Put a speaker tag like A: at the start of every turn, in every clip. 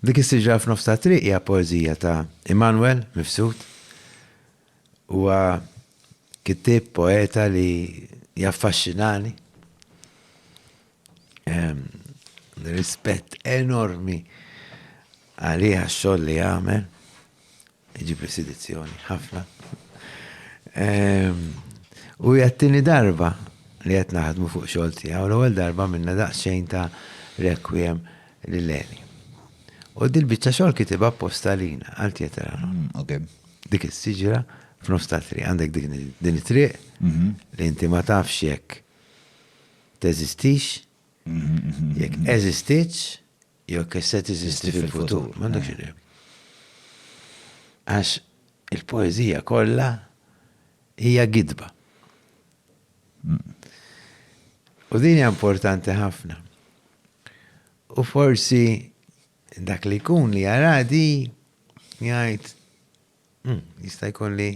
A: Dik is-siġra f'nofs tat-triq hija poeżija ta' Immanuel Mifsud. Huwa kittieb poeta li jaffaxxinani. Ehm, rispett enormi għalih għax-xogħol li jagħmel. Iġibli sidizzjoni, ħafna. Ehm, u jattini darba li qed naħdmu fuq xogħol tiegħu l-ewwel darba minna daqsxejn ta' requiem li leli. U dil-biċċa xogħol kitibha apposta lina għal tjetra. Mm, ok. Dik is-siġra f'nofs ta' triq għandek din it-triq mhm. li inti ma tafx jekk teżistix, mhm, mhm, jekk eżistitx, Jekk se teżisti fil-futur, m'għandekx idea. Għax il-poeżija kollha hija gidba. U din hija importanti ħafna. U forsi dak li jkun li jaradi jgħid Jista' jkun li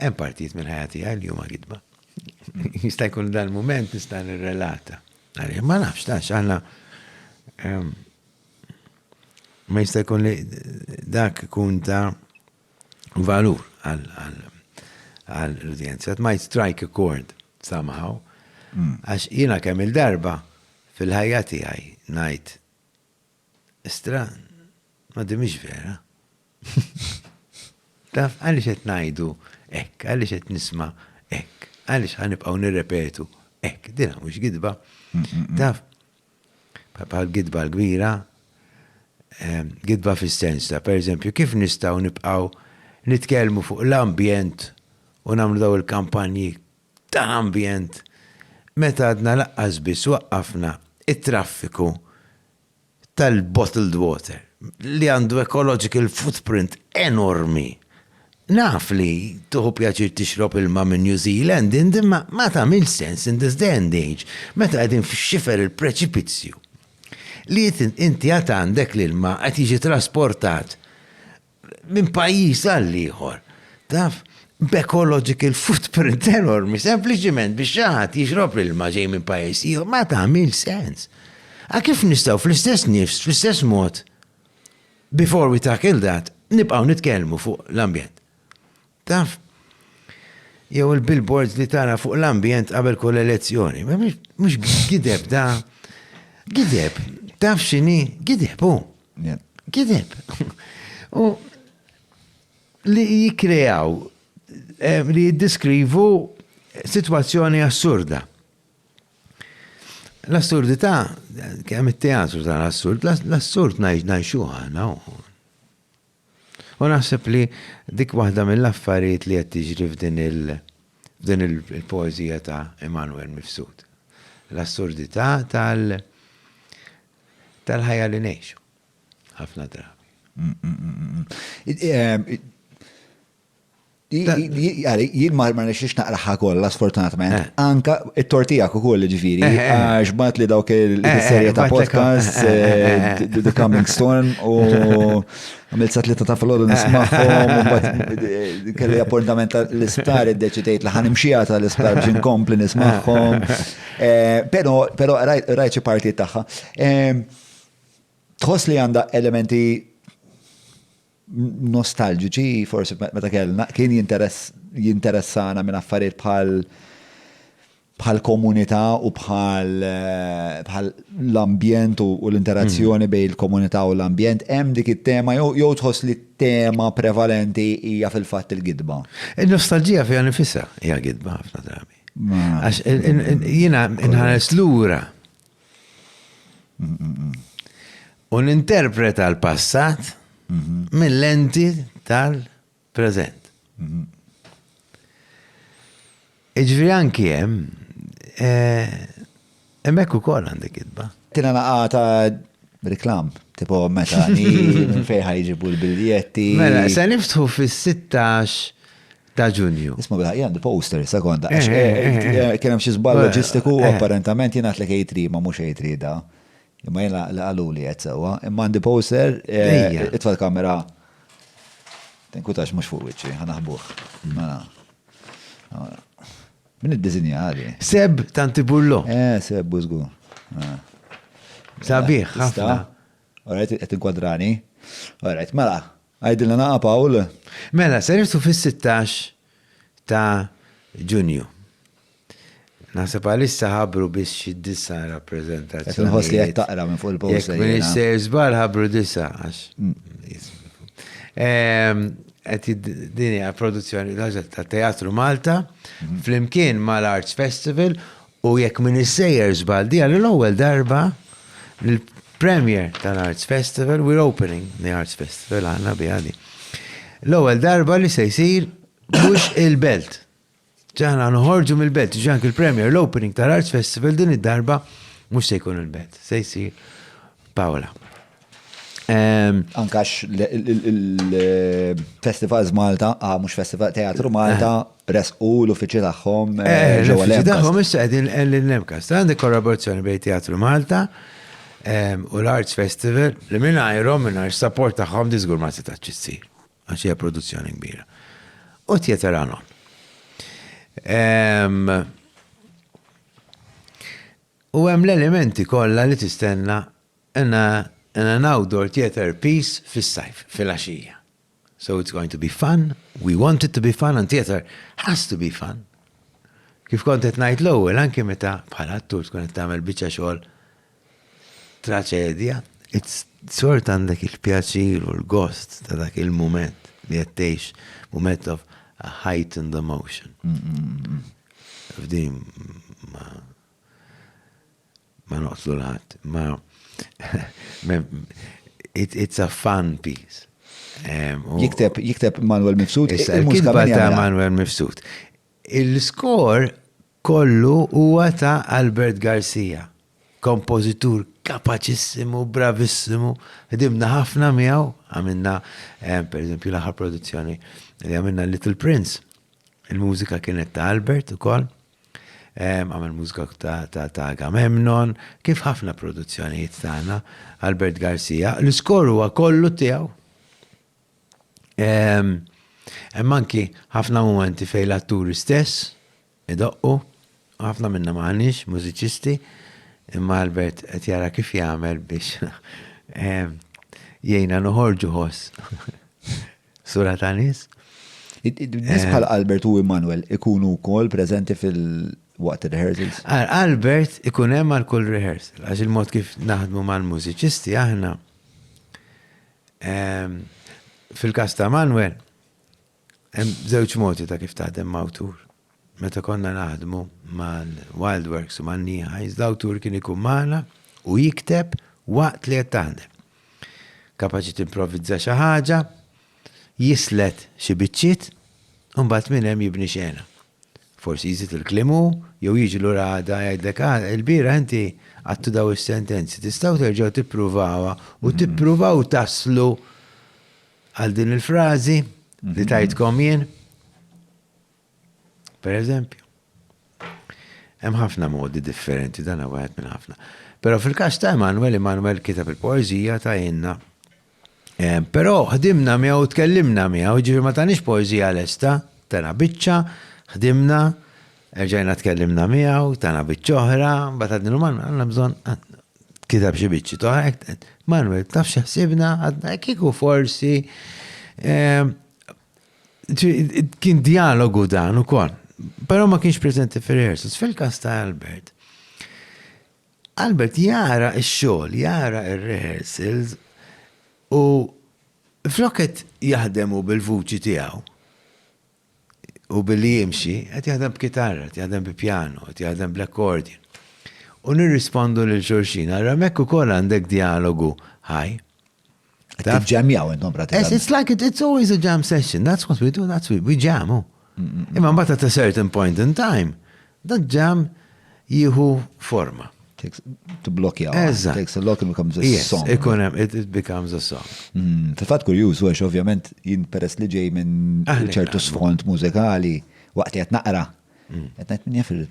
A: hemm partijiet mill-ħajja tiegħi li huma gidba. Jista' jkun dal-mument nista' nirrelata. Għalih ma nafx tax aħna ehm, ma jista' jkun li dak ikun ta' valur għall-udjenza. It might strike a chord somehow. Hmm. Għax jiena kemm il-darba fil-ħajja tiegħi ngħid Istra, ma di mhix vera. Taf għaliex qed ngħidu hekk, għaliex qed nisma' hekk, għaliex ħanibqgħu nirrepetu hekk, dina mhux gidba. Taf, bħal gidba l-kbira, ehm, gidba fis-sens ta' pereżempju kif nistgħu nibqgħu nitkellmu fuq l-ambjent u nagħmlu daw il-kampanji ta' ambjent meta għadna laqqas biss waqqafna t-traffiku tal-bottled water li għandu ecological footprint enormi. Naf li tieħu pjaċir tixrob ilma minn New Zealand int imma ma tagħmilx sens in this day and age meta qegħdin f'xifer il-preċipizzju li inti għad għandek l-ilma qed jiġi trasportat minn pajjiż għal ieħor. Taf, b'ecological footprint enormi, sempliċiment biex xaħat jixrob l-ilma ġej minn pajjiż ieħor, ma tagħmil sens. A kif nistgħu fl-istess nifs, fl-istess mod, before we tackle that, nibqgħu nitkellmu fuq l-ambjent. Taf, jew il-billboards li tara fuq l-ambjent qabel kull elezzjoni. Mhux gideb da. Gideb. Taf x'inhi? Gideb hu. Gideb. U li jikkreaw eh, li jiddiskrivu sitwazzjoni assurda. L-assurdità, kemm it-teatru tal-assurd, l-assurd ngħixu ħana U naħseb li dik waħda mill-affarijiet li qed tiġri f'din il f'din il-poeżija ta' Immanuel Mifsud. L-assurdità tal tal-ħajja li ngħixu. Ħafna drabi.
B: Jien ma nixiex naqraħa kollha sfortunatament. Eh. Anka it-tortijak ukoll ġifieri, eh, eh, għax bat li dawk il-serje ta' podcast, The Coming Storm, u għamil sa tlieta ta' filgħodu nismagħhom, kelli appuntament tal-isptar iddeċidejt li ħanimxija tal-isptar biex inkompli nismagħhom. Però però rajt xi parti tagħha. Tħoss li għandha elementi nostalġiċi forsi meta kellna kien jinteressana minn affarijiet bħal bħal komunità u bħal eh, l-ambjent u l-interazzjoni mm. bejn il-komunità u l-ambjent, hemm dik it-tema jew tħoss li t-tema prevalenti hija fil-fatt il-gidba. Il-nostalġija fiha
A: nifisha hija gidba ħafna drabi. Għax jiena nħares lura U ninterpreta l-passat mill-lenti tal-preżent. Iġviri anki hemm, eh, hemmhekk ukoll għandek kitba. Tina naqa ta'
B: reklam, tipo meta ni fejħa jġibu l-biljetti. Mela, se niftħu
A: fis-16 ta' Ġunju. Isma' bil-ħaq għandi poster
B: sekonda għax kien hemm xi żball loġistiku u apparentement jien għedtlek A3 ma mhux A3 da. Imma jien li qaluli qed sewwa. Imma għandi poster itfa' l-kamera. Tinkwitax mhux fuq wiċċi, ħa naħbuh. Mela. Min iddiżinja għadi? Seb Tantiburlo. Eh,
A: Seb Bużgu. Sabiħ,
B: ħafna. Alright, qed inkwadrani. Alright, mela, Għidilna naqgħa Pawl. Mela, ser irsu
A: fis-sittax ta' Ġunju. Naħseb għalissa ħabru biss xi disa rappreżentazzjoni. Qed inħoss li qed taqra
B: minn fuq il-post. Jekk minn sejr żball
A: ħabru disa għax. Mm. Qed din hija produzzjoni ta' Teatru Malta mhm. flimkien mal-Arts Festival U jekk m'iniex sejjer żball, di għal l-ewwel darba li l-premiere tal-Arts Festival, we're opening the Arts Festival, għandna biha di. L-ewwel darba li se jsir mhux il-Belt. Ġa aħna noħorġu mill-Belt, ġi anki l-premiere, l-opening tal-Arts Festival din id-darba mhux se jkun il-Belt, se jsir Pawla. Ehm,
B: Ankax il-Festivals Malta, ah, mux Festival Teatru Malta, eh. resqu l-uffiċi tagħhom eh, eh, ġewwa l-Uffiċi tagħhom issa
A: qegħdin l-Nemkast. Għandek kollaborazzjoni bejn Teatru Malta ehm, u l-Arts Festival li mingħajrhom mingħajr support tagħhom diżgur ma setax issir għax hija produzzjoni kbira. U tjeter għanon. Ehm, u hemm l-elementi kollha li tistenna and and an outdoor theatre piece fis-sajf, filgħaxija. So it's going to be fun, we want it to be fun and theatre has to be fun. Kif kont qed ngħid l-ewwel anke meta bħala attur tkun qed tagħmel biċċa xogħol traċedja, it's sort għandek il-pjaċir u l-gost ta' dak il-moment li qed tgħix moment of a heightened emotion. F'din ma Ma noqtlu l-ħadd, ma it's a fun piece. Jikteb,
B: jikteb Manuel Mifsud. Il-mużika ta'
A: Manuel Mifsud. Il-skor kollu huwa ta' Albert Garcia, kompożitur kapaċissimu, bravissimu, ħdimna ħafna miegħu, għamilna, eh, per eżempju, l-aħħar produzzjoni li għamilna Little Prince. Il-mużika kienet ta' Albert ukoll. Għamel mużika ta' Agamemnon, kif ħafna produzzjonijiet tagħna, Albert Garcia, l-iskor huwa kollu tiegħu. Hemm anki ħafna momenti fejn l-atturi stess idoqqu, ħafna minna maħniex mużiċisti, imma Albert qed jara kif jagħmel biex jgħina noħorġu ħoss. Sura ta' nies. Nies
B: eh. bħal Albert u Immanuel ikunu wkoll preżenti fil waqt il-rehearsals? Albert
A: ikun hemm għal kull rehearsal, għax il-mod kif naħdmu mal-mużiċisti aħna. Ehm, fil-kas ta' Manuel, hemm żewġ modi ta' kif taħdem ma' awtur. Meta konna naħdmu mal-Wildworks u man-Nighais, l-awtur kien ikun magħna u jikteb waqt li qed taħdem. Kapaċi timprovvizza xi ħaġa, jislet xi biċċiet u mbagħad minn hemm jibni xena. Forsi jżid il-kliem hu jew jiġi lura għada jgħidlek, Ah, ilbieraħ inti għadtu dawn is-sentenzi, tistgħu terġgħu tippruvawha u tippruvaw taslu għal din il-frażi li tajtkom jien? Pereżempju, hemm ħafna modi differenti dan wieħed minn ħafna. Però fil-każ ta' Emanuel, Emanuel kitab il-poeżija ta' jenna. Eh, però ħdimna miegħu tkellimna miegħu, ġifi ma tanix poeżija lesta, tana biċċa, ħdimna, erġajna tkellimna miegħu, tana biċċa oħra, bata din man għandna bżonn ah, kitab xi biċċi toħra, Manuel, taf x'ħsibna għadna kiku forsi eh, Kien dialogu dan u kol. Pero ma kienx prezenti fil-rehearsals. Fil-kas ta' Albert, Albert jara il-xol, jara il-rehearsals u floket jahdemu bil-vuċi tijaw u billi jimxi, għet jahdem b'kitarra, għet jahdem b'piano, għet jahdem b'l-accordion. U nirrispondu l-xurxina, għara mekku kol għandek dialogu ħaj.
B: Ġemjaw intom pratikament. It's like it, it's always a
A: jam session, that's what we do, that's we, we jam. Oh. Imma mbagħad at a certain point in time, da jam jieħu forma.
B: Tibblokja. Eżatt. Takes a lock and becomes
A: a
B: song. Ikun hemm it becomes
A: a song. Mm, Fil-fatt kurjuż
B: għax ovvjament jien peress li ġej minn ċertu sfond mużikali waqt qed naqra Qed ngħid minn jafil,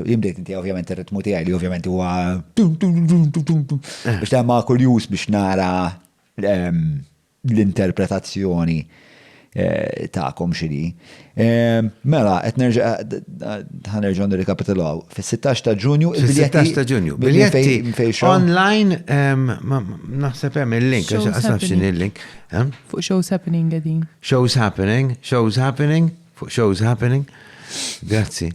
B: jimdejt inti ovvjament ir-ritmu tiegħi li ovvjament huwa biex ta' ma' kurjuż biex nara ehm, l-interpretazzjoni eh, ta'kom xini. Ehm, mela, qed nerġa' ħanerġa' nirrikapitulaw. Fis-16 ta' Ġunju il-biljetti. 16 ta' Ġunju.
A: Biljetti online ehm, naħseb hemm il-link, għax nafx il-link. Fuq shows
C: happening għedin. Shows happening,
A: shows happening. Fuq shows happening? Grazzi.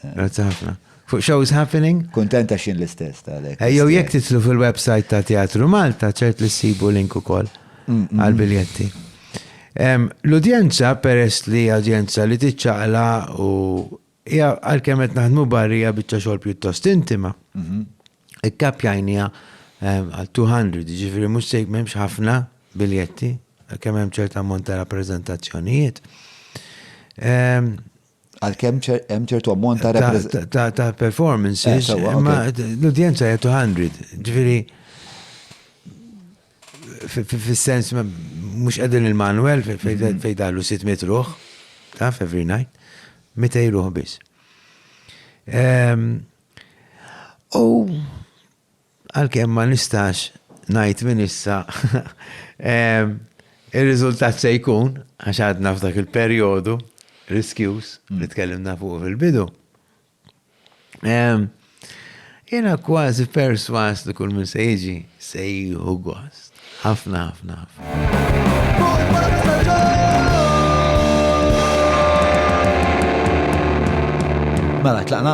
A: Grazzi ħafna. Fuq shows happening? Kontenta xin l-istess
B: ta' lek. Ejjew jekk titlu
A: fil-website ta' Teatru Malta ċert li ssibu link ukoll għal-biljetti. L-udjenza peress li udjenza li tiċċaqla u Hija għalkemm qed naħdmu barrija biċċa xogħol pjuttost intima, ikkappjajniha għal 200, jiġifieri mhux se m'hemmx ħafna biljetti, għalkemm hemm ċerta ammont ta' rappreżentazzjonijiet.
B: Għalkemm hemm ċertu ammont ta' rappreżentazzjonijiet. Ta' performances,
A: eh, imma l-udjenza hija 200, ġifieri Fis-sens mhux qegħdin il-manwel fejn daħlu 600 ruħ, taf every night, 200 ruħ biss. Ehm, u għalkemm ma nistax ngħid minn issa ehm, ir-riżultat se jkun għax għadna f'dak il-perjodu riskjus li tkellimna fuq fil-bidu. Ehm, jena kważi perswas li kull minn se jiġi se jieħu gost. Ħafna, ħafna, ħafna.
B: Mela, tlaqna?